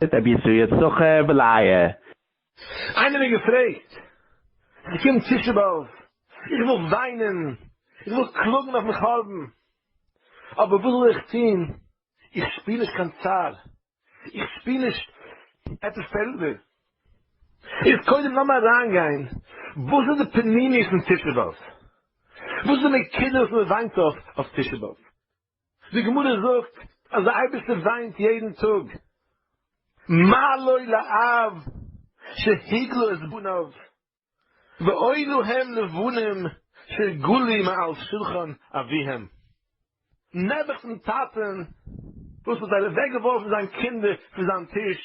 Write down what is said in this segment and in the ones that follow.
ט רבי ישראל סוחר בלייער. איינער מיר געפרעגט, ס'קומט תשעה באב, איך וויל וויינען, איך וויל קלאגן אויפן חורבן, אבער וואס זאל איך טון, איך שפיר נישט קיין צער, איך שפיר נישט עפעס פעלדער. איז קודם לאמיר אריינגיין וואס איז די פנימיות פון תשעה באב, וואס איז די נקודות וואס מען וויינט אויף אויף תשעה באב. די גמרא זאגט אז די אייבערשטער וויינט יעדן טאג, מה לו לאב שהגלו את בניו, ואונו הם לבנים שגלו מעל שולחן אביהם. נעבעך דעם טאטען וואס האט אוועק געווארפן זיין קינדער פון זיין טיש,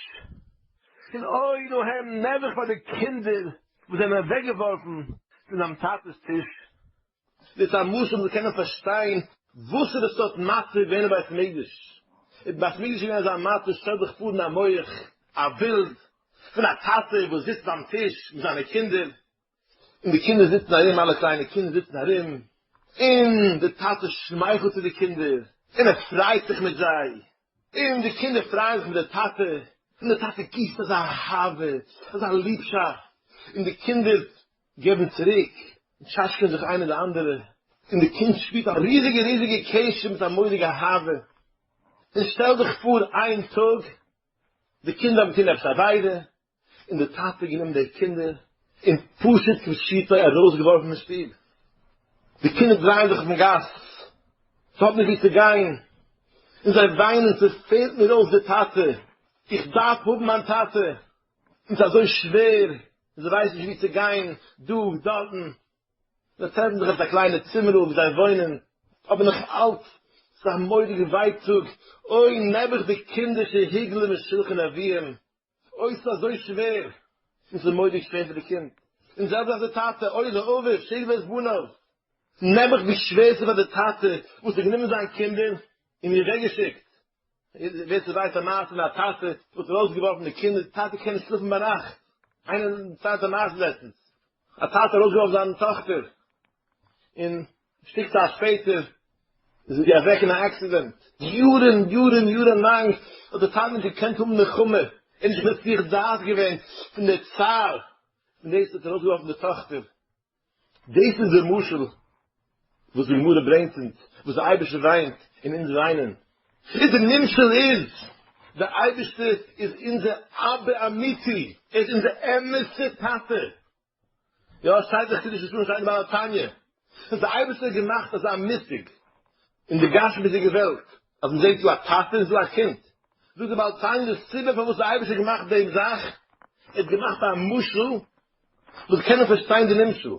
און אונו הם נעבעך פאר די קינדער וואס זענען אוועק געווארפן פון זיין טאטעס טיש. מיט א משל זאל מען קענען פארשטיין וואס איז די סארט מצב געווען אין בית מקדש. אין בית מקדש איז געווען אזא מצב, שטעל דיך פאר אין דיין מח א בילד פון א טאטע וואס זיצט ביים טיש מיט זיינע קינדער, און די קינדער זיצן ארום, אלע קליינע קינדער זיצן ארום, און די טאטע שמייכלט צו די קינדער, און ער פריידט זיך מיט זיי, און די קינדער פרייען זיך מיט די טאטע, און די טאטע גיסט אזא אהבה, אזא ליבשאפט, און די קינדער געבן צוריק און טשאטשקען זיך איינע די אנדערע, און די קינד שפירט א ריזיגע ריזיגע קשר מיט א מורא'דיגע אהבה, און שטעל דיך פאר איין טאג די קינדער האבן געטון עפעס א עבירה, און די טאטע האט גענומען די קינדער און פשוט כפשוטו ארויסגעווארפן פון שטוב, די קינדער דרייען זיך אויפן גאס, זיי האבן נישט ווי צו גיין, און זיי וויינען ס'פעלט מיר אויס די טאטע, איך דארף האבן מיין טאטע, און ס'אזוי שווער און זיי ווייסן נישט וואו צו גיין, דא, דארטן, זיי טרעפן זיך אויף א קליינע צימערל וואו זיי וואוינען, אבער נאך אלץ איז עס א מורא'דיגע ווייטאג, אוי נעבעך די קינדער שהיג להם משולחן אביהם, אוי ס'איז אזוי שווער, און ס'איז מורא'דיג שווער פאר די קינד, און זעלבסט אויף די טאטע, אוי לאביו שהיג לו את בניו, נעבעך ווי שווער ס'איז פאר די טאטע וואס האט גענומען זיין קינדער און מיר אוועקגעשיקט, ווער ס'ווייסט א מעשה פון א טאטע וואס האט ארויסגעווארפן די קינדער די טאטע קען נישט שלאפן ביינאכט איינער דערציילט א מעשה לעצטנס א טאטע האט ארויסגעווארפן זיין טאכטער און שטיק צייט שפעטער איז זי אוועק אין א עקסידענט יארן יארן יארן לאנג האט די טאטע נישט געקענט האבן נחמה ער האט נישט געוואוסט זיך זאט געווען פון די צער און דאס האט ארויסגעווארפן די טאכטער. דאס איז די משל וואס די גמרא ברענגט אונז, וואס דער אייבערשטער וויינט און אונז וויינען. איז די נמשל איז, דער אייבערשטער איז אונזער אבא אמיתי, ער איז אונזער אמת'ע טאטע. יא, עס שטייט אין חידוש נישט און שטייט אין בעל התניא, אז דער אייבערשטער האט געמאכט אזא מושג אין די גשמיות'דיגע וועלט, אז מען זעט דא א טאטע און דא א קינד. זאגט דער בעל התניא, די סיבה פארוואס דער אייבערשטער האט געמאכט דעם זאך, ער האט געמאכט א משל וואס קענען פארשטיין די נמשל,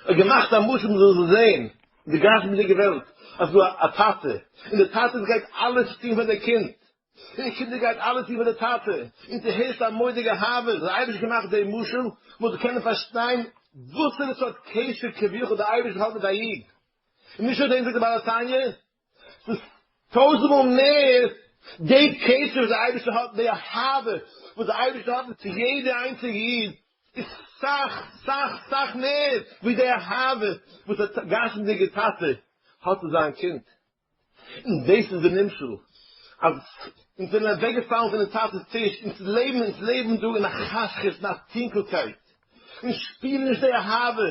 האט געמאכט א משל מען זאל זאל זען אין די גשמי'דיגע וועלט אז דא א טאטע, און דער טאטע גייט אלעס טון פאר די קינד, און די קינדער גייט אלעס טון פאר די טאטע, און ס'איז הערשט א מורא'דיגע אהבה, האט דער אייבערשטער געמאכט די משל מען זאל קענען פארשטיין וואסערע סארט קשר כביכול דער אייבערשטער האט מיט א איד, און משא כ דעם זאגט דער בעל התניא, ס'איז טויזנט מאל מער די קשר וואס די אייבערשטער האט, די אהבה וואס די אייבערשטער האט צו יעדע איינציגע איד, איז סאך סאך סאך מער ווי די אהבה וואס א גשמ'דיגע טאטע האט צו זיין קינד. און דאס איז די נמשל, אז אונז זענען אוועקגעפאלן פונעם טאטע'ס טיש, אונז לעבן אונז לעבן דא אין א חשכות, אין א טונקלקייט, איך שפיר נישט די אהבה,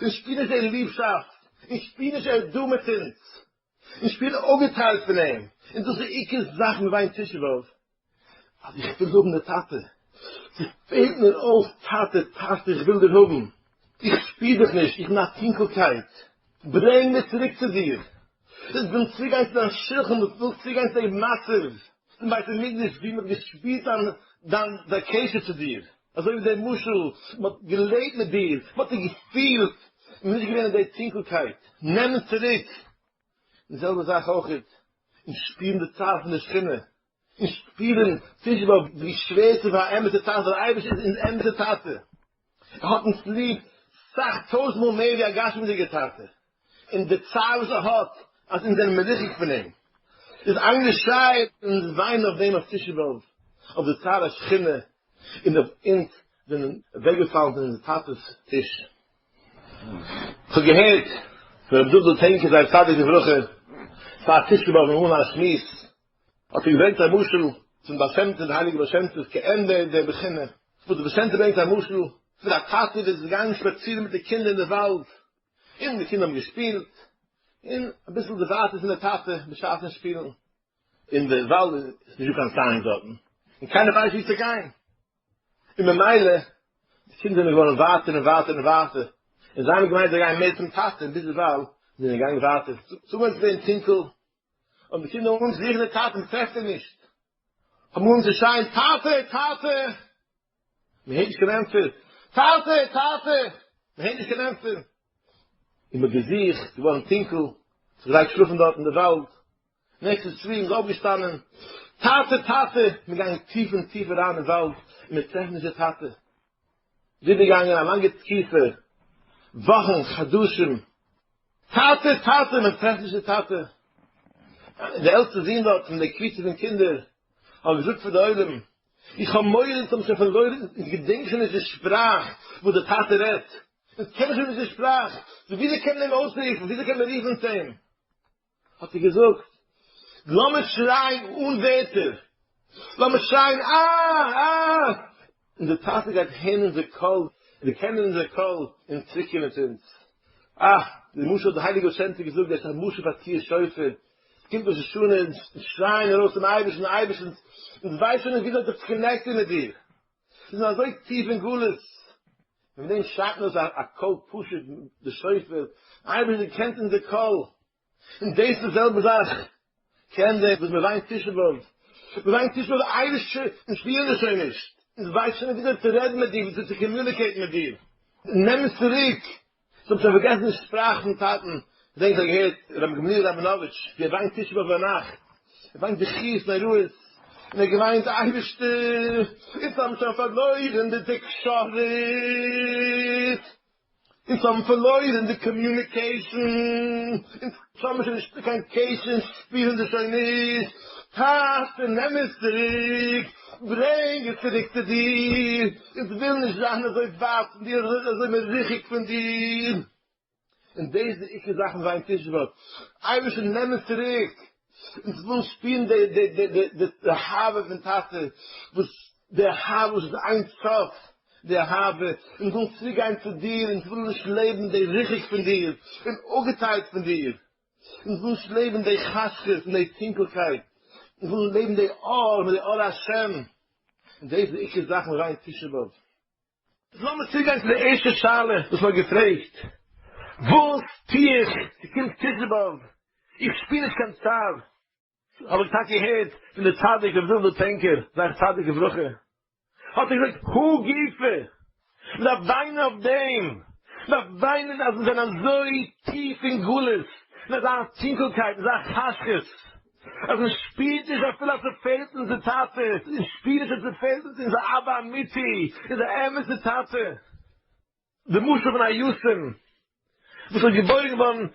איך שפיר נישט די ליבשאפט, איך שפיר נישט ער דא מיט אונז, איך שפיר אפגעטיילט פון אים, און דאס איז די עיקר זאך מיט וויין תשעה באב, אז איך וויל האבן די טאטע, ס'פעלט מיר אויס טאטע, טאטע, איך וויל דיר האבן, איך שפיר דיך נישט, איך בין א טונקלקייט, ברענג מיר צוריק צו דיר, איך וויל צוגיין צו דיין שכן, איך וויל צוגיין צו די מצב אין בית המקדש ווי מ'האט געשפירט דיין דיין קשר צו דיר. אזוי ווי דער משל, מען האט געלעבט מיט דיר, מען האט דיר געפילט, מען איז נישט געווען אין די טונקלקייט, נעם עס צוריק, די זעלבע זאך אויך איז אין שפירן די צער פון די שכינה, אין שפירן צווישן באלד ווי שווער ס'איז פאר א אמת'ע טאטע, דער אייבערשטער איז אונז אמת'ע טאטע, ער האט אונז ליב סאך טויזנט מאל מער ווי א גשמי'דיגע טאטע, און די צער וואס ער האט אז אונז זענען מרוחק פון אים איז איינגעשרייעט אין אונז וויינען אויף דעם אויף תשעה באב אויף די צער השכינה און אויף אונז זענען אוועקגעפאלן פון אונזער טאטעס טיש. איך האב געהערט פון רבי דוד'ל טענקער זי ע צדיק לברכה פאר תשעה באב אין אן א שמועס האט ער געברענגט א משל פון בעל שם טוב די הייליגע בעל שם טוב כעין דער דער בחינה וואס דער בעל שם טוב ברענגט א משל פון א טאטע וואס איז געגאנגען שפאצירן מיט די קינדער אין די וואלד און די קינדער האבן געשפילט, און אביסל די ווייטער פון די טאטע בשעת'ן שפילן, און די וואלד איז נישטא קיין סיין דארטן, און קיינער ווייסט וואו צו גיין, און ממילא די קינדער זענען געווארן ווייטער און ווייטער און ווייטער, און זיי האבן געמיינט זיי גייען מער צום טאטע, און ביזדערווייל זענען זיי געגאנגען ווייטער, צומאל איז עס געווען טונקל, האבן די קינדער אנגעהויבן זוכן די טאטע, מען טרעפט אים נישט, האבן אנגעהויבן צו שרייען, טאטע! טאטע! מען הערט נישט קיין ענטפער. טאטע! טאטע! מען הערט נישט קיין ענטפער. איז מען געזוכט געווארן טונקל, זיך געלייגט שלאפן דארט אין די וואלד, נעכט איז צוויי, מען איז אויפגעשטאנען, טאטע! טאטע! מען געגאנגען טיף און טיף אריין אין וואלד, און מען טרעפט נישט די טאטע. ווידער געגאנגען א לאנגע תקופה, וואכן, חדשים, טאטע! טאטע! מען טרעפט נישט די טאטע. דער עלטסטער זון דארט פון די קבוצה פון קינדער האט געזאגט פאר די עולם, איך האב מורא איך האב שוין פארלוירן, איך געדענק שוין נישט די שפראך וואס די טאטע רעדט, איך קען שוין נישט די שפראך, וויאזוי קען מען אים אויסרופן, וויאזוי קען מען רופן צו אים, האט ער געזאגט, לאמיר שרייען אן ווערטער, לאמיר שרייען אה! אה! און די טאטע גייט הערן אונזער קול, דערקענען אונזער קול און צוריקקומען צו אונז. אה! די משל האט דער הייליגער באשענטער געזאגט, דאס איז א משל פאר תקיעת שופר, קומט ראש השנה און אונז שרייען ארויס צום אייבערשטן, אייבערשטן, אונז ווייסן נישט וויאזוי זיך צו קאנעקטן מיט דיר, מיר זענען אזוי טיף אין גלות, און פון דעם שרייט מען אויס א קול פשוט די שופר, אייבערשטער דו קענסט אונזער קול, און דאס די זעלבע זאך קען דער וואס מען וויינט תשעה באב, מען וויינט תשעה באב אייבערשטער אונז שפירן דיר שוין נישט, אונז ווייסן שוין נישט וויאזוי צו רעדן מיט דיר, וויאזוי צו קאמיוניקעיטן מיט דיר, נעם אונז צוריק, כ'האב שוין פארגעסן די שפראך פון טאטן, כ'דענק כ'האב געהערט רבי גמליאל ראבינאוויטש ווי ער באנקט תשעה באב ביינאכט, ער באנקט בכיות נוראות, און ער געוויינט אייבערשטער אונז האבן שוין פארלוירן די תקשורת, אונז האבן פארלוירן די קאמיוניקעישן, אונז. ס'האט מיר שוין נישט קיין קעיס און שפירן די שוין נישט, טאטע נעם עס צוריק, ברענג עס צוריק צו דיר, איך וויל נישט זיין אזוי ווייט פון דיר, אזוי מרוחק פון דיר, און דאס איז די עיקר זאך פון זיין תשבות, אייבערשטער נעם עס צוריק, אונז ווילן שפירן די אהבה פון טאטע, וואס די אהבה וואס האט איין סוף, די אהבה און וויל צוגיין צו דיר און וויל נישט לעבן די ריחוק פון דיר און אפגעטיילט פון דיר און וויל נישט לעבן די חשכות און די טונקלקייט און וויל לעבן די אור מיט די אור השם און דאס איז די עיקר זאך און ריין תשעה באב. איז לאמיר צוגיין צו די ערשטע שאלה וואס מען האט געפרעגט, וואס טו איך ס'קומט תשעה באב, איך שפיר נישט קיין צער, האב איך טאקע געהערט פון די צדיק רבי זיסל טענקער זי ע צדיק לברכה האט ער געזאגט הוא גופא מען דארף וויינען אויף דעם מען דארף וויינען אז מיר זענען אזוי טיף אין גלות אין אזא טונקלקייט אין אזא חשכות אז מען שפירט נישט אפילו אז ס'פעלט אונז די טאטע אונז שפירן נישט אז ס'פעלט אונז אונזער אבא אמיתי אונזער אמת'ע טאטע. די משל פון א יתום וואס איז געבוירן געווארן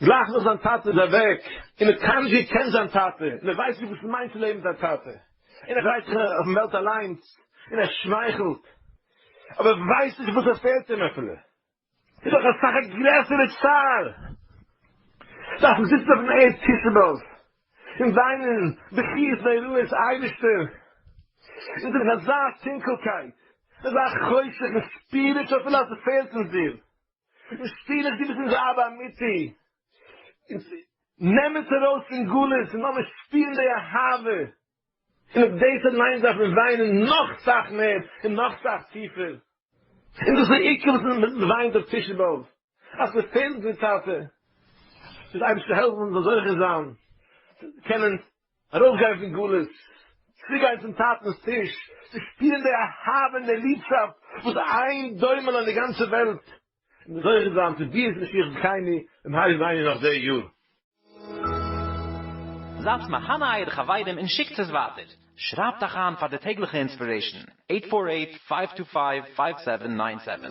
גלייך נאך זיין טאטע איז אוועק, און מען קיינמאל נישט געקענט זיין טאטע, און ער ווייסט נישט וואס עס מיינט צו לעבן מיט א טאטע, און ער דרייט זיך אויפן וועלט אליינס, און ער שמייכלט, אבער ער ווייסט נישט וואס עס פעלט אים אפילו, איז דאך אסאך א גרעסערע צער דארפן זיצן אויפן ערד תשעה באב, און זיינען בכיות נוראות אייבישטער און דורך אזא טונקעלקייט אזא חושך און שפיר איך שוין פילאזער פעלט אונז דיר און שפיר איך דו ביסט אונזער אבא אמיתי אונז נעם אונז ארויס פון גלות און לאמיר שפירן די אהבה און אויף דאס אליינס דארף מען וויינען נאך סאך מער און נאך סאך טיפער, און דאס איז די עיקר וואס מען וויינט אויף תשעה באב אז מען פעלט די טאטע, זאל די אייבערשטער העלפן אונז זאלן זוכה זיין צו קענען ארויסגיין פון גלות, צוריק גיין צום טאטנ'ס טיש, צו שפירן די אהבה און די ליבשאפט וואס איין דומה אין די גאנצע וועלט. און זוכה זיין צו ביאות משיח זכייני במהרה בימינו נאך די יאר. זייטס מהנה אייערע חברים און שיקטס עס ווייטער. שרייבט אייך איין פאר די טעגליכע אינספירעישן, אייט פאר אייט, פייוו טו פייוו, פייוו סעווען ניין סעווען.